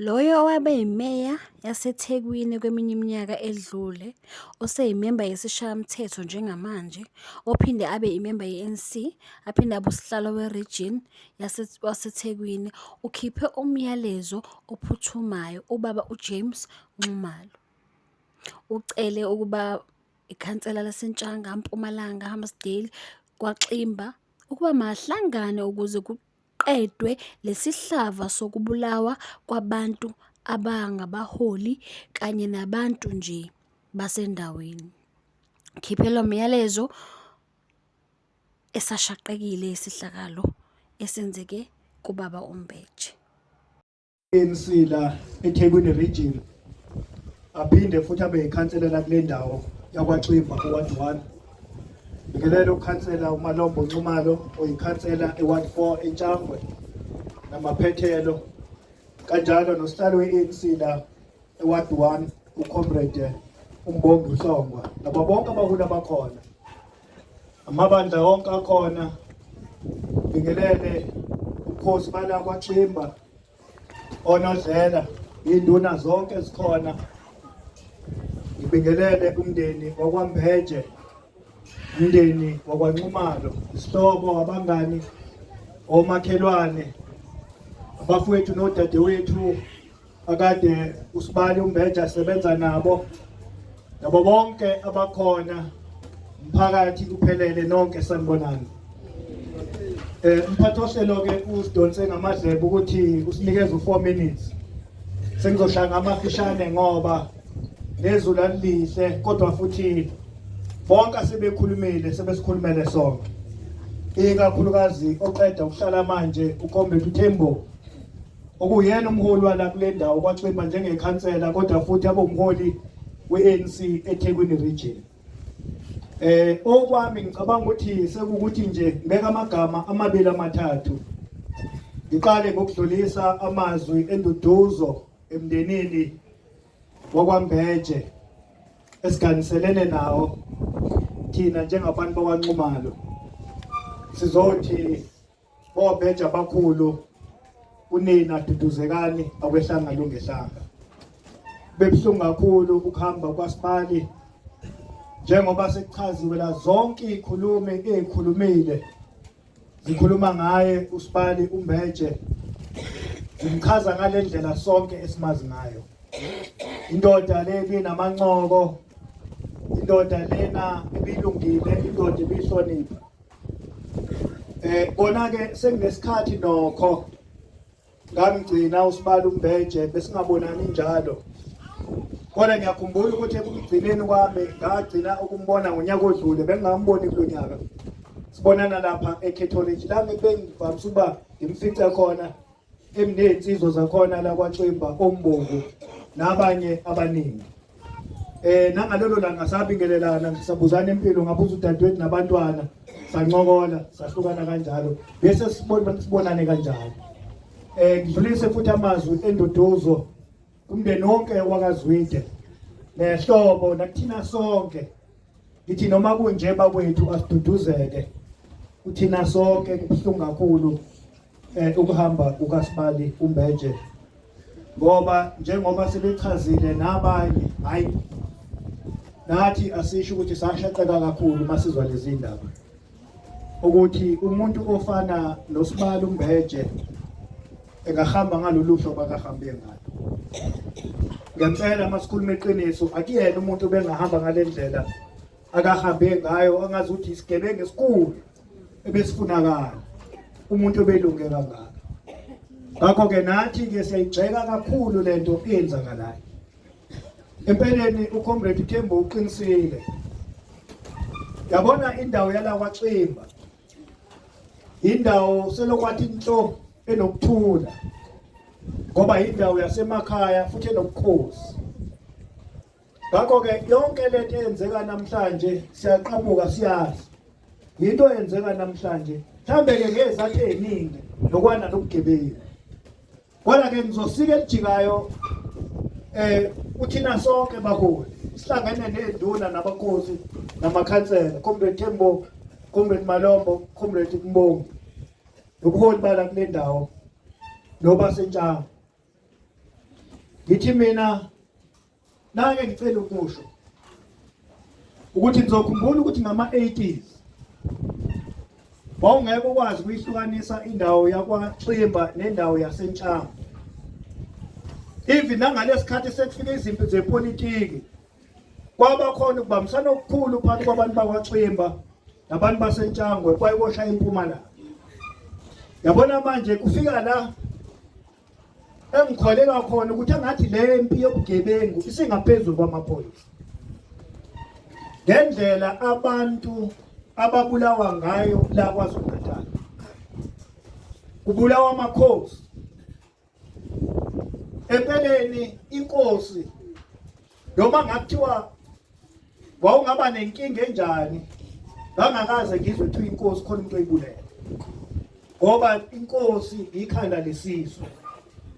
Loyo owabe yiMeya yaseThekwini kweminye iminyaka edlule, oseyimemba yesiShayamthetho njengamanje, ophinde abe imemba ye-ANC, aphinde abe uSihlalo weRigini waseThekwini, ukhiphe umyalezo ophuthumayo ubaba uJames Nxumalo. Ucele ukuba ikhansela laseNtshanga, Mpumalanga, Hammarsdale, KwaXimba ukuba mahlangane ukuze . kuqedwe lesihlava sokubulawa kwabantu abangabaholi kanye nabantu nje basendaweni. Ngikhiphe lo myalezo esashaqekile isehlakalo esenzeke kubaba uMbeje. ANC la eThekwini region aphinde futhi abe yikhansela la kule ndawo yakwaXimba ku-ward one ngikelela ukhansela umalombo nxumalo oyikhansela e-ward four entshangwe namaphethelo kanjalo nosihlalo we-anc la e-ward one ucomrade umbongi uhlongwa nabo bonke abaholi abakhona amabandla wonke akhona bingelele ubukhosi bala kwaXimba onodlela induna zonke zikhona ngibingelele umndeni wakwambeje umndeni wakwanxumalo isihlobo abangani omakhelwane abafowethu nodadewethu akade usibali umbeja asebenza nabo nabo bonke abakhona mphakathi kuphelele nonke sanibonani eh umphathi ohlelo ke usidonse ngamadlebe ukuthi usinikeze u4 minutes sengizoshaya ngamafishane ngoba nezulu alihle kodwa futhi bonke asebekhulumile sebesikhulumele sonke ikakhulukazi oqeda ukuhlala manje ukhombethu Thembo okuyena umholi wala kule ndawo kwaXimba njengekhansela kodwa futhi abe umholi we-ANC eThekwini region eh okwami ngicabanga ukuthi sekukuthi nje ngibeka amagama amabili amathathu ngiqale ngokudlulisa amazwi enduduzo emndenini wakwambeje esiganiselene nawo thina njengabantu bakwanxumalo sizothi Obheja abakhulu unina duduzekani akwehlanga lungehlanga. Bebuhlungu kakhulu ukuhamba kwaSibali njengoba sekuchaziwe la zonke izikhulumi ezikhulumile zikhuluma ngaye uSibali uMbeje zimchaza ngalendlela sonke esimazi ngayo indoda leli namancoko indoda lena ibilungile indoda ibihlonipha Eh kona ke senginesikhathi nokho ngamgcina usibala umbeje besingabonani njalo kodwa ngiyakhumbula ukuthi ekugcineni kwami ngagcina ukumbona ngonyaka odlule bengingamboni kulo nyaka sibonana lapha ecatholic la ngibengivamise ukuba ngimfice khona emnezinsizwa zakhona la kwaXimba ombongo nabanye abaningi eh nangalelo langa sabingelelana ngisabuzana impilo ngabuza udadewethu nabantwana sancokola sahlukana kanjalo bese sibona sibonane kanjalo eh ngidlulise futhi amazwi enduduzo Kumndeni wonke wakazwide nehlobo nakuthina sonke ngithi noma kunje bakwethu asiduduzeke uthina sonke kubuhlungu kakhulu eh ukuhamba kukaSibali uMbeje ngoba njengoba sebechazile nabanye hayi nathi asisho ukuthi sashaqeka kakhulu masizwa lezi ndaba ukuthi umuntu ofana nosibali umbeje engahamba ngalolu hlobo akahambe ngalo ngempela masikhuluma iqiniso akuyena umuntu obengahamba ngale ndlela akahambe ngayo angazi ukuthi isigebengu esikhulu ebesifunakala umuntu obelunge kangaka ngakho-ke nathi-ke siyayigxeka kakhulu le nto eyenzakalayo Empeleni uComrade Thembu uqinisile. Yabona indawo yala kwaXimba. Indawo selokwathi inhlo enokuthula. Ngoba indawo yasemakhaya futhi enobukhosi. Ngakho ke yonke lento eyenzeka namhlanje siyaqhamuka siyazi. Yinto eyenzeka namhlanje. Mhlambe ke ngezathu eziningi nokwana nobugebengu. Kodwa ke ngizosika elijikayo eh uthina sonke baholi sihlangene nezinduna nabakosi namakhansela comrade Thembo comrade Malombo comrade Mbongo nobuholi bala kule ndawo noba sentshanga ngithi mina Nake ngicela ukusho ukuthi nizokhumbula ukuthi ngama-80s wawungeke ukwazi ukuyihlukanisa indawo yakwaXimba nendawo yaseNtshanga even nangalesikhathi sekufika izimpi zepolitiki kwaba khona ukubambisana okukhulu phakathi kwabantu bakwaXimba nabantu baseNtshangwe kwayibosha impumalanga yabona manje kufika la engikholelwa khona ukuthi engathi le mpi yobugebengu isingaphezulu kwamaphoyisa ngendlela abantu ababulawa ngayo la KwaZulu-Natal kubulawa amakhosi empeleni inkosi noma ngakuthiwa wawungaba nenkinga enjani ngangakaze ngizwe kuthiwa inkosi khona umuntu oyibulela ngoba inkosi ikhanda lesizwe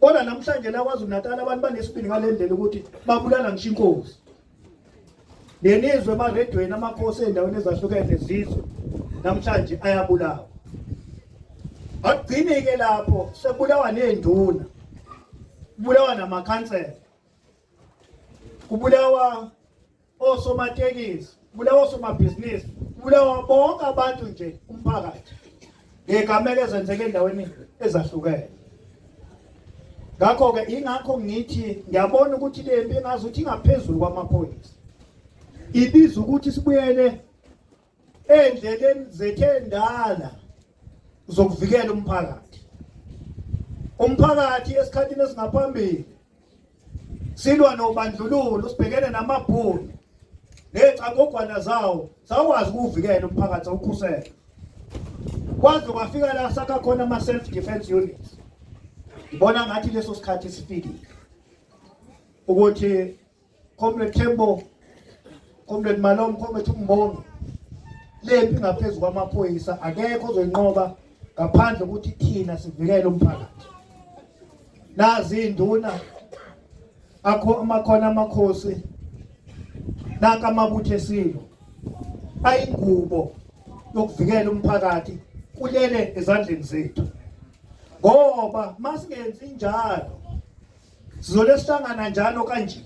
kodwa namhlanje la kwaZulu Natal abantu banesibindi ngalendlela ukuthi babulala ngisho inkosi nenizwe emaredweni amakhosi endaweni ezahlukene zizwe namhlanje ayabulawa akugcini ke lapho sekubulawa nezinduna kubulawa namakhansela kubulawa osomatekisi kubulawa osomabhizinisi kubulawa bonke abantu nje umphakathi ngegamela ezenzeke endaweni ezahlukene ngakho-ke ingakho ngithi ngiyabona ukuthi le mpi ngazi ukuthi ingaphezulu kwamaphoyisa ibiza ukuthi sibuyele endleleni zethu endala zokuvikela umphakathi umphakathi esikhathini esingaphambili silwa nobandlululo sibhekene namabhunu nezicangogwana zawo sakwazi ukuvikela umphakathi awukhusela kwaze kwafika la sakha khona ama self defense units ngibona ngathi leso sikhathi sifikile ukuthi Comrade Tembo, Comrade Malom, Comrade Mbongi. Lempi ngaphezu kwamaphoyisa akekho ozoyinqoba ngaphandle ukuthi thina sivikele umphakathi. Nazi induna akho amakhona amakhosi naka amabuthe silo ayingubo yokuvikela umphakathi kulele ezandleni zethu ngoba masingenzi njalo Sizole sihlangana njalo kanje.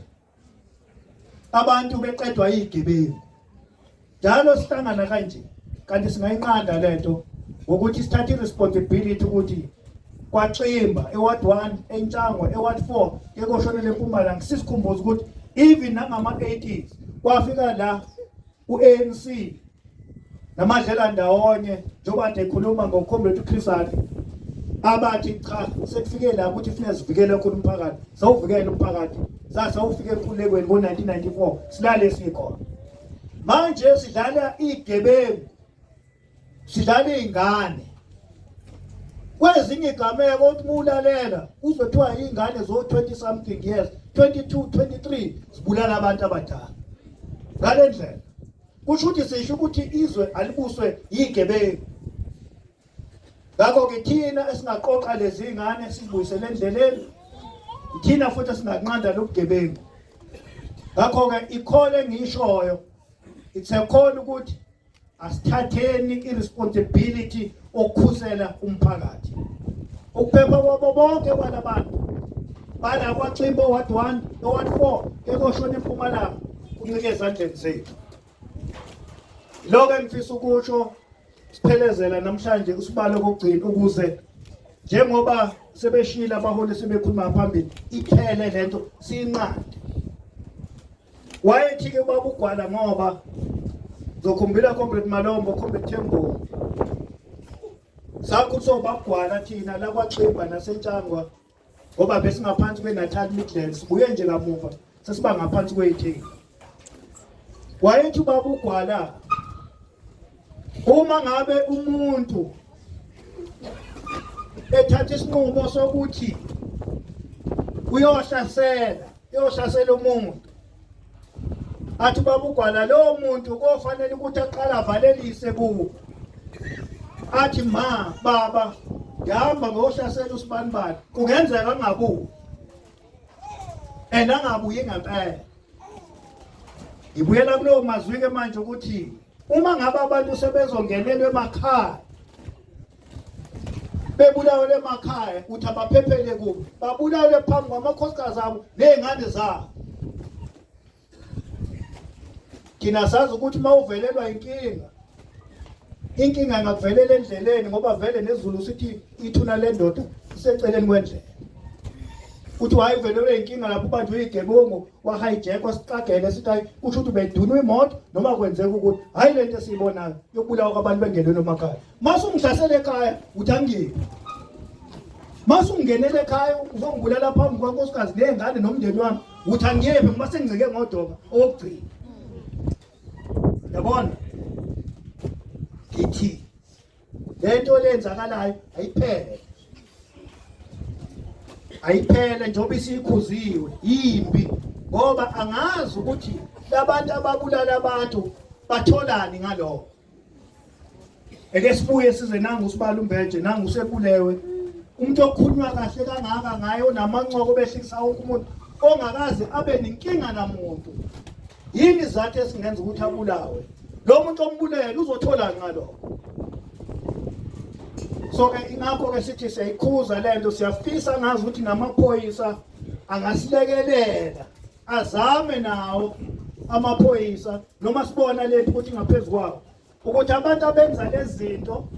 Abantu beqedwa izigebengu. Njalo sihlangana kanje kanti singayinqanda lento ngokuthi sithathe responsibility ukuthi kwaXimba eward 1 eNtshango eward 4 ekoshonele eMpumalanga sisikhumbuza ukuthi even nangama 80s kwafika la u-ANC namadlela ndawonye njengoba kade ekhuluma ngomkhombethi uChris Hani abathi cha sekufike la ukuthi kufuneka sivikele khona umphakathi sawuvikele umphakathi sasa ufike enkulekweni ngo-1994 silale sikhona manje sidlala igebengu sidlala iy'ngane kwezinye igameko uthi mulalela uzothiwa iy'ngane zo-20 something years 22 23 zibulala abantu abadala ngale ndlela kusho ukuthi sisho ukuthi izwe alibuswe yigebengu ngakho-ke thina esingaqoqa lezi ngane sizibuyisele endleleni thina futhi esinganqanda lobugebengu ngakho-ke ikhole engiyishoyo it's a call ukuthi asithatheni iresponsibility okukhusela umphakathi ukuphepha kwabo bonke kwalabantu bala kwaximbo ward 1 noward 4 ekoshona empumalanga kuncike ezandleni zethu lokho engifisa ukusho siphelezela namhlanje usibalo kokugcina ukuze njengoba sebeshila abaholi sebekhuluma phambili iphele lento sinqande Wayethi-ke ubaba uGwala ngoba zokhumbula Comrade Malombo, Comrade Themboni. Sakuthi sobabugwala thina la kwaXimba naseNtshangwa ngoba besingaphansi kweNatal Midlands, sibuye nje kamuva sesiba ngaphansi kweyithini. Wayethi ubaba uGwala uma ngabe umuntu ethatha isinqumo sokuthi uyohlasela uyohlasela umuntu athi babugwala lowo muntu kofanele ukuthi aqala avalelise kuwo athi ma baba ngihamba ngohlasela usibanibani kungenzeka angabuyi and angabuyi ngempela ngibuyela kulowo mazwi-ke manje ukuthi Uma ngabe abantu sebezongenelwa emakhaya bebulawele emakhaya uthi abaphephele kubo babulawele phambi kwamakhosikazi abo ney'ngane zabo thina sazi ukuthi uma uvelelwa inkinga inkinga ingakuvelela endleleni ngoba vele nezulu sithi ithuna lendoda iseceleni kwendlela uthi wayevelelwe inkinga lapho ubanjwe igebongo kwahijackwa siqagele sithi hayi kusho ukuthi bedunwe imoto noma kwenzeka ukuthi hhayi le nto esiyibonayo yokubulawa kwabantu bengenweni emakhaya mase ungihlasele ekhaya uthi angiyephi mase ungingenele ekhaya uzongibulala phambi kwankosikazi ney'ngane nomndeni wami uthi angiyephi ngoba sengicike ngodoba owokugcina yabona ngithi lento lenzakalayo ayiphele ayiphele njengoba isikhuziwe yimbi ngoba angazi ukuthi labantu ababulala abantu batholani ngalokho eke sibuye size nangu usibala umbeje nangu usebulewe umuntu okhulunywa kahle kangaka ngaye onamancoko behlisa wonke umuntu ongakaze abe nenkinga namuntu Yini izathu esingenza ukuthi abulawe? Lo muntu ombulele uzothola ngalokho. So ke ingakho ke sithi siyayikhuza lento siyafisa ngazi ukuthi namaphoyisa angasilekelela azame nawo amaphoyisa noma sibona lethu ukuthi ngaphezulu kwawo ukuthi abantu abenza lezi zinto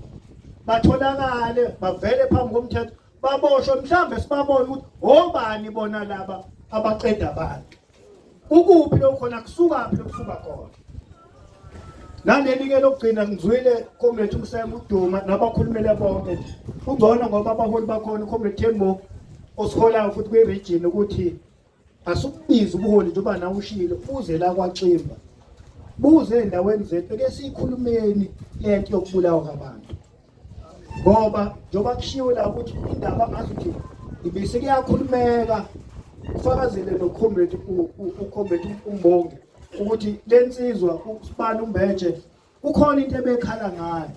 batholakale bavele phambi komthetho baboshwe mhlawumbe sibabone ukuthi obani bona laba abaqeda abantu Ukuphi lokho khona kusukaphi lokusuka khona? Naleli ke lokugcina ngizwile comrade umsema uduma nabakhulumele bonke. Ungcono ngoba abaholi bakhona comrade Thembo osiholayo futhi kwi region ukuthi asukubiza ubuholi njengoba nawe ushilo uze la kwaximba. Buze endaweni zethu ke sikhulumeni lento yokubulawa kwabantu. ngoba njengoba kushiwo la ukuthi indaba ngathi ukuthi ibise kuyakhulumeka ufakazile nokhomredi ukhomredi umbonge ukuthi lensizwa usibani umbeje kukhona into ebekhala ngayo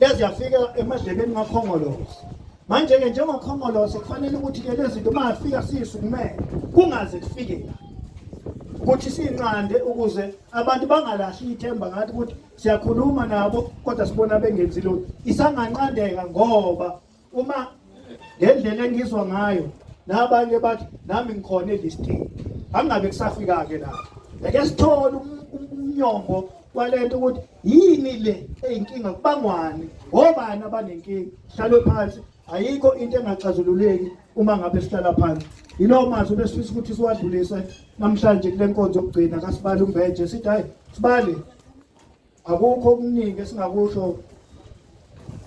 leziyafika emadlebeni kakhongolose manje-ke njengokhongolose kufanele ukuthi-ke lezi zinto uma afika siyisukumele kungaze kufike la ukuthi sinqande ukuze abantu bangalahli ithemba ngathi ukuthi siyakhuluma nabo kodwa sibona bengenzi lutho isanganqandeka ngoba uma ngendlela engizwa ngayo nabanye bathi nami ngikhona elistini angabe kusafika-ke lapho ake sithole um-, um-, umnyombo kwalento ukuthi yini le eyinkinga kubangwani obani abanenkinga hlalwe phansi ayikho into engaxazululeki uma ngabe sihlala phansi yilowo mazwi besifisa ukuthi siwadlulise namhlanje kule nkonzo yokugcina kasibali umbeje sithi hayi sibali akukho okuningi esingakusho um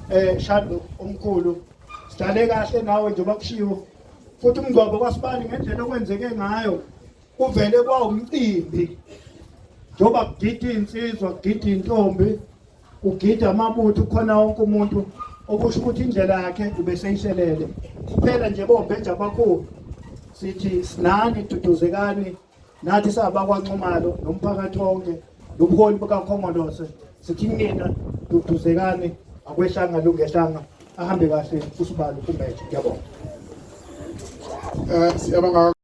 eh, shado omkhulu sidlale kahle nawe njengoba kushiwo futhi umngcwabo kwasibali ngendlela okwenzeke ngayo kuvele kwawumcimbi njengoba kugida iy'nsizwa kugida iy'ntombi kugida amabutho khona wonke umuntu okusho ukuthi indlela yakhe ubeseyishelele kuphela nje bombheja abakhulu sithi sinani duduzekani nathi sabakwanxumalo nomphakathi wonke nobuholi bukakhongolose sithi nina duduzekani akwehlanga lungehlanga ahambe kahle usibalo kumbeje ngiyabonga eh, siyabonga